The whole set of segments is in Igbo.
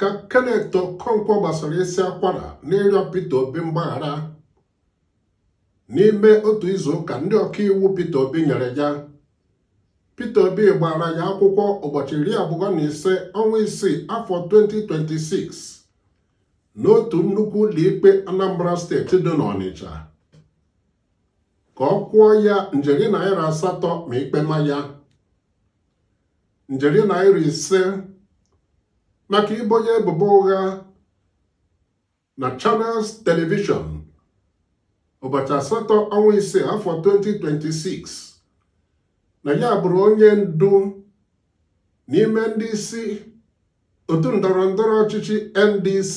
ka Kenneth Okonkwo gbasara isi akwara n'ịrịọ Peter Obi mgbaghara n'ime otu izu ụka ndị ọkaiwu Peter Obi nyere ya Peter Obi gbara ya akwụkwọ ụbọchị iri abụọ na ise ọnwa isii afọ 2026 n'otu nnukwu ụlọikpe Anambra steeti dị n'Ọnịcha ka ọ kwụọ ya njeri naira asatọ ma ikpe ma ya njeri naira ise maka ibo ya ebubo ụgha na Channels Television ụbọchị asatọ ọnwa ise afọ 2026 na ya bụrụ onye ndu n'ime ndị isi otu ndọrọ ndọrọ ọchịchị NDC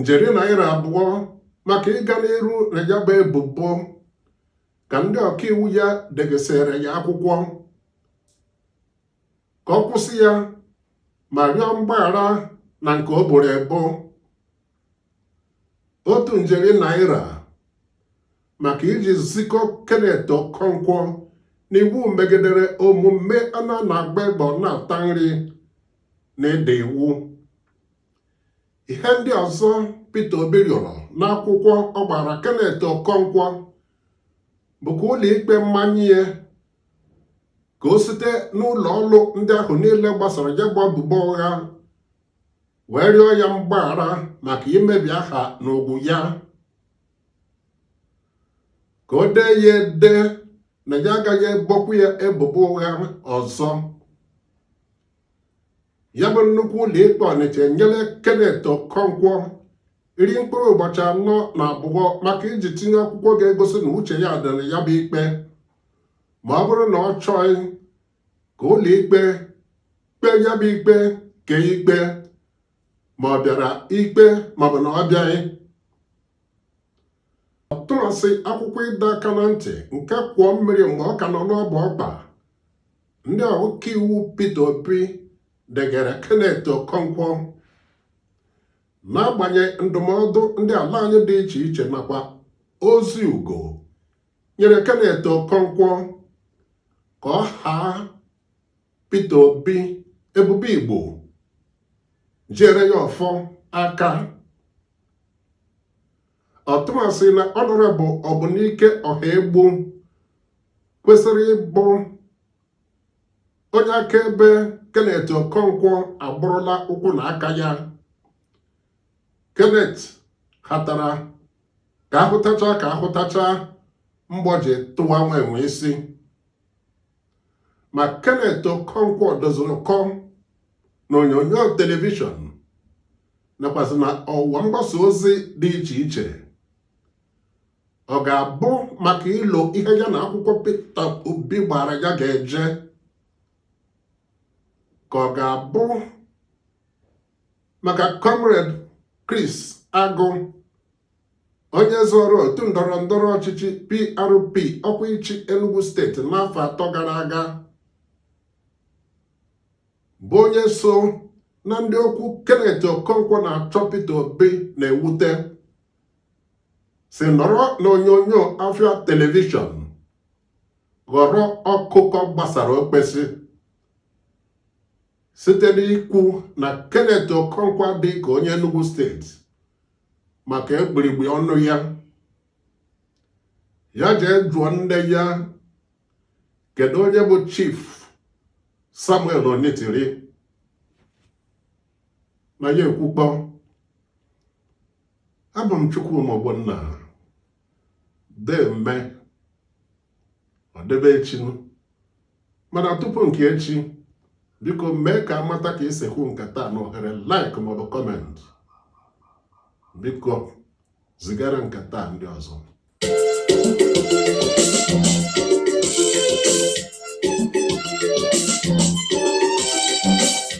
njeri naira abụọ maka ịga n'iru na ya bụ ebubo ka ndị ọkaiwu ya degesịrị ya akwụkwọ ka ọ kwụsị ya ma rịọ mgbaghara na nke o boro ebo otu njeri naira maka iji zikọ Kenneth Okonkwo n'iwu megidere omume a na-agba egbe ọ na-ata nri na ịda iwu ihe ndị ọzọ Peter Obi rịọrọ n'akwụkwọ ọ gbara Kenneth Okonkwo bụ ka ụlọikpe manye ya ka o site n'ụlọ ọrụ ndị ahụ niile gbasara ya bụ ebubo ụgha wee rịọ ya mgbaghara maka imebi aha na ugwu ya ka o dee ya ede na ya agaghị ebokwu ya ebubo ụgha ọzọ ya bụ nnukwu ụlọikpe Ọnịcha nyere Kenneth Okonkwo iri mkpụrụ ụbọchị anọ na abụọ maka iji tinye akwụkwọ ga-egosi na uche ya dị na ya bụ ikpe ma ọ bụrụ na ọ chọghị ka ụlọikpe kpee ya bụ ikpe kee ikpe ma ọ bịara ikpe maọbụ na ọ bịaghị ọtụmasị akwụkwọ ịdọ aka na ntị nke kwọọ mmiri mgbe ọ ka nọ n'ọbụ ọkpa ndị ọkaiwu Peter Obi degara Kenneth Okonkwo n'agbanyeghị ndụmọdụ ndị ala anyị dị iche iche nakwa ozi ugo nyere Kenneth Okonkwo ka ọ haa Peter Obi ebube Igbo jiere ya ọfọ aka ọtụmasị na Honorable Ọbụnike Ọhaegbu kwesịrị ịbụ onye akaebe Kenneth Okonkwo agọrọla ụkwụ na aka ya Kenneth hatara ka a hụtacha ka a hụtacha mgbọ ji tụwa nwa enwe isi ma Kenneth Okonkwo dịziri ụkọ na onyonyo telivishọn nakwazị na ọwa mgbasa ozi dị iche iche ọ ga-abụ maka ilo ihe ya na akwụkwọ Peter Obi gbara ya ga-eje ka ọ ga-abụ maka comrade Chris Agụ onye zọrọ otu ndọrọ ndọrọ ọchịchị PRP ọkwa ịchị Enugu steeti n'afọ atọ gara aga bụ onye so na ndị okwu Kenneth Okonkwo na-achọ Peter Obi na-ewute si nọrọ n'onyonyo Afịa telivishọn ghọrọ ọkụkọ gbasara okpesi site n'ikwu na Kenneth Okonkwo dị ka onye Enugu steeti maka egburigbe ọnụ ya ya jee jụọ nne ya kedu onye bụ Chief Samuel Onitiri na ya ekwukpọ abụ m Chukwuma Ogbonna deeme ọ dịbe echi mana tupu nke echi biko mee ka a mata ka i si hụ nke taa na ohere like maọbụ kọment biko zigara nke taa ndị ọzọ